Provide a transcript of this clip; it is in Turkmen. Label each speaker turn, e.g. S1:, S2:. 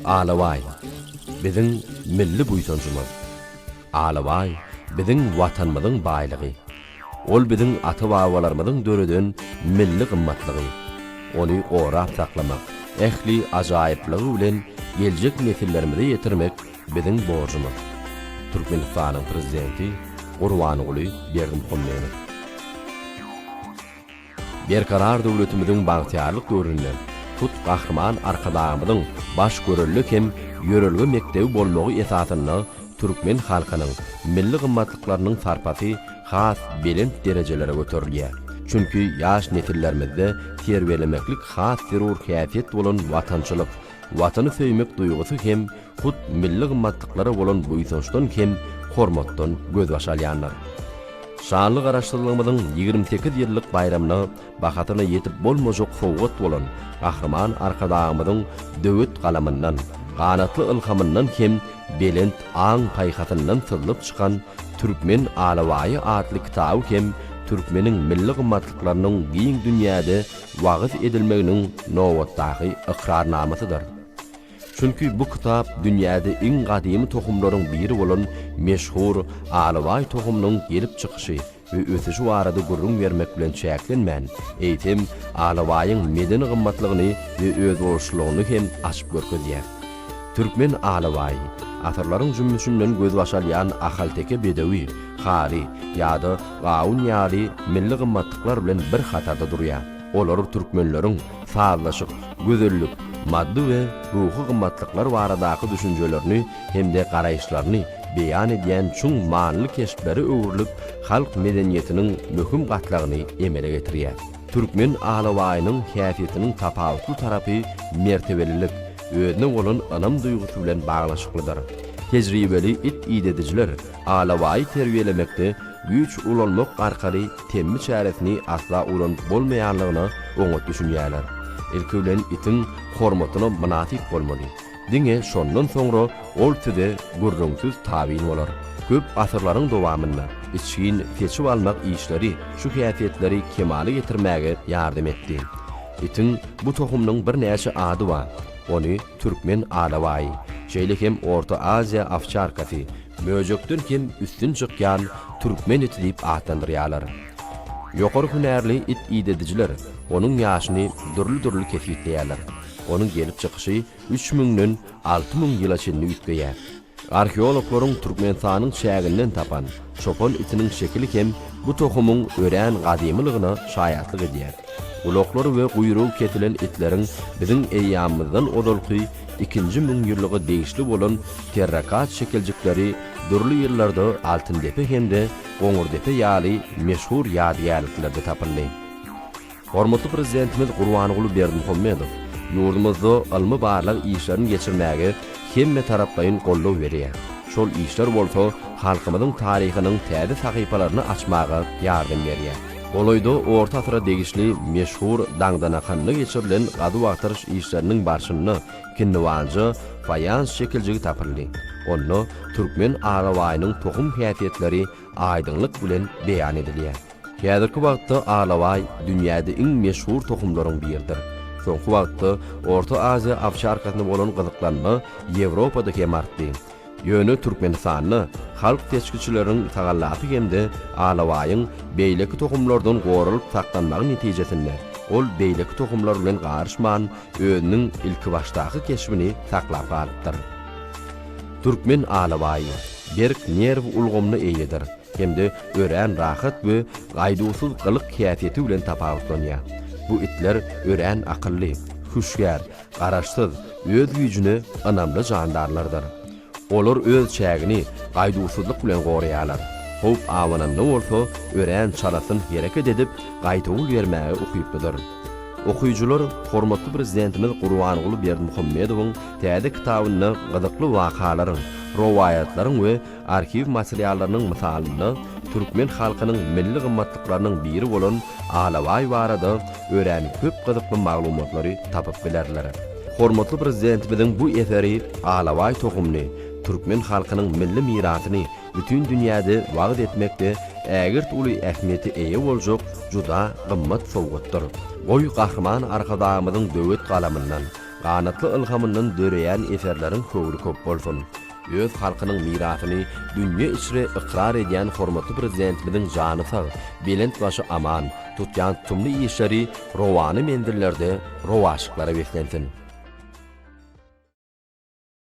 S1: Alabaý biziň milli buýsanjymyz. Alabaý biziň Watanymyzyň baýlygy. Ol biziň ata-babalarymyzyň döreden milli gymmatlygy. Ony gorap saklamak, ähli ajaýyplygy bilen geljek nesillerimize ýetirmek biziň borjumyz, Türkmenistanyň Prezidenti Gurbanguly Berdimuhamedow. Berkarar döwletimiziň bagtyýarlyk döwründe hut Gahryman Arkadagymyzyň baş görelde hem ýörelge mekdebi bolmagy esasynda türkmen halkynyň milli gymmatlyklarynyň sarpasy has belent derejelere göterilýär. Çünki ýaş nesillerimizde terbiýelemeklik has zerur häsiýet bolan watançylyk, Watany söýmek duýgusy hem hut milli gymmatlyklara bolan buýsançdan hem hormatdan gözbaş alýandyr. Şanly Garaşsyzlygymyzyň ýigrimi sekiz ýyllyk baýramyna bahasyna ýetip bolmajak sowgat bolan Gahryman Arkadagymyzyň döwet galamyndan, ganatly ylhamyndan hem belent aň-paýhasyndan syzlyp çykan Türkmen alabaýy atly kitaby hem türkmeniň milli gymmatlyklarynyň giň dünýäde wagyz edilmeginiň nobatdaky ykrarnamasydyr. Çünki bu kitap dünýäde iň gadymy tohumlaryň biri bolan meşhur Alabaý tohumynyň gelip çykyşy we ösüşi barada gürrüň bermek bilen çäklenmän, eýsem, alabaýyň medeni gymmatlygyny we özboluşlylygyny hem açyp görkezýär. Türkmen alabaýy, asyrlaryň jümmüşinden gözbaş alýan ahalteke bedewi, hary, ýa-da gawun ýaly milli gymmatlyklar bilen bir hatarda durýar. Olar türkmenleriň sazlaşyk, gözellik, maddy we ruhy gymmatlyklar baradaky düşünjelerini hem-de garaýyşlaryny beýan edýän çuň manyly keşplere öwrülip, halk medeniýetiniň möhüm gatlagyny emele getirýär. Türkmen alabaýynyň häsiýetiniň tapawutly tarapy mertebelilik, özüne bolan ynam duýgusy bilen baglanyşyklydyr. Tejribeli it idedijiler alabaýy terbiýelemekde güýç ulanmak arkaly temmi çäresini asla ulanyp bolmaýanlygyna oňat düşünýärler. Ilki bilen itiň hormatyna mynasyp bolmaly. Diňe şondan soňra ol size gürrüňsiz tabyn bolar. Köp asyrlaryň dowamynda içgin seçip almak işleri şu häsiýetleri kemala getirmäge ýardam etdi. Itiň bu tohumynyň birnäçe ady bar. Ony türkmen alabaýy, şeýle hem Orta Aziýa owçarkasy, möjekden hem üstün çykýan türkmen iti diýip atlandyrýarlar. Ýokary hünärli it idedijiler onuň ýaşyny dürli-dürli kesgitleýärler. Onuň gelip çykyşy üç müňden alty müň ýyla çenli üýtgeýär. Arheologlaryň Türkmenistanyň çäginden tapan çopan itiniň şekili hem bu tohumyň örän gadymylygyna şaýatlyk edýär. Gulaklary we guýrugy kesilen itleriň biziň eýýamymyzdan ozalky ikinji müňýyllyga degişli bolan terrakat şekiljikleri dürli ýyllarda Altyndepe hem-de Goňurdepe ýaly meşhur ýadygärliklerde tapyldy. Hormatly Prezidentimiz Gurbanguly Berdimuhamedow ýurdumyzda ylmy-barlag işlerini geçirmäge hemmetaraplaýyn goldaw berýär, şol işler bolsa halkymyzyň taryhynyň täze sahypalaryny açmaga ýardam berýär. Golaýda orta asyra degişli meşhur Daňdanakanda geçirilen gazuw-agtaryş işleriniň barşynda kinniwanja faýans şekiljigi tapyldy, onda türkmen alabaýynyň tohum häsiýetleri aýdyňlyk bilen beýan edilýär. Häzirki wagtda alabaý dünýäde iň meşhur tohumlaryň biridir. Soňky wagtda Orta Aziýa owçarkasyna bolan gyzyklanma Ýewropada hem artdy. Ýöne Türkmenistanda halk seçgiçileriniň tagallasy hem-de alabaýyň beýleki tohumlardan goralyp saklanmagy netijesinde, ol beýleki tohumlar bilen garyşman, özüniň ilkibaşdaky keşbini saklap galypdyr. Türkmen alabaýy berk nerw ulgamyna eýedir. hem-de örän rahat we gaýduwsyz gylyk-häsiýeti bilen tapawutlanýar. Bu itler örän akylly, hüşgär, garaşsyz, öz güýjüne ynamly jandarlardyr. Olar öz çägini gaýduwsyzlyk bilen goraýarlar, howp abananda bolsa örän çalasyn hereket edip, gaýtawul bermäge ukyplydyr. Okyjylar hormatly Prezidentimiz Gurbanguly Berdimuhamedowyň täze kitabynda gyzykly wakalaryň, rowaýatlaryň we Arhiw materiallarynyň mysalynda türkmen halkynyň milli gymmatlyklarynyň biri bolan alabaý barada örän köp gyzykly maglumatlary tapyp bilerler. Hormatly Prezidentimiziň bu eseri alabaý tohumly türkmen halkynyň milli mirasyny bütin dünýäde wagyz etmekde ägirt uly ähmiýete eýe boljak juda gymmat sowgatdyr. Goý, Gahryman Arkadagymyzyň döwet galamyndan, ganatly ylhamyndan döreýän eserleriň höwri köp bolsun! öz halkynyň mirasyny dünýe içre ykrar edýän hormatly Prezidentimiziň jany sag, belent başy aman, tutýan tutumly işleri rowana menzillerde rowaçlyklara beslensin!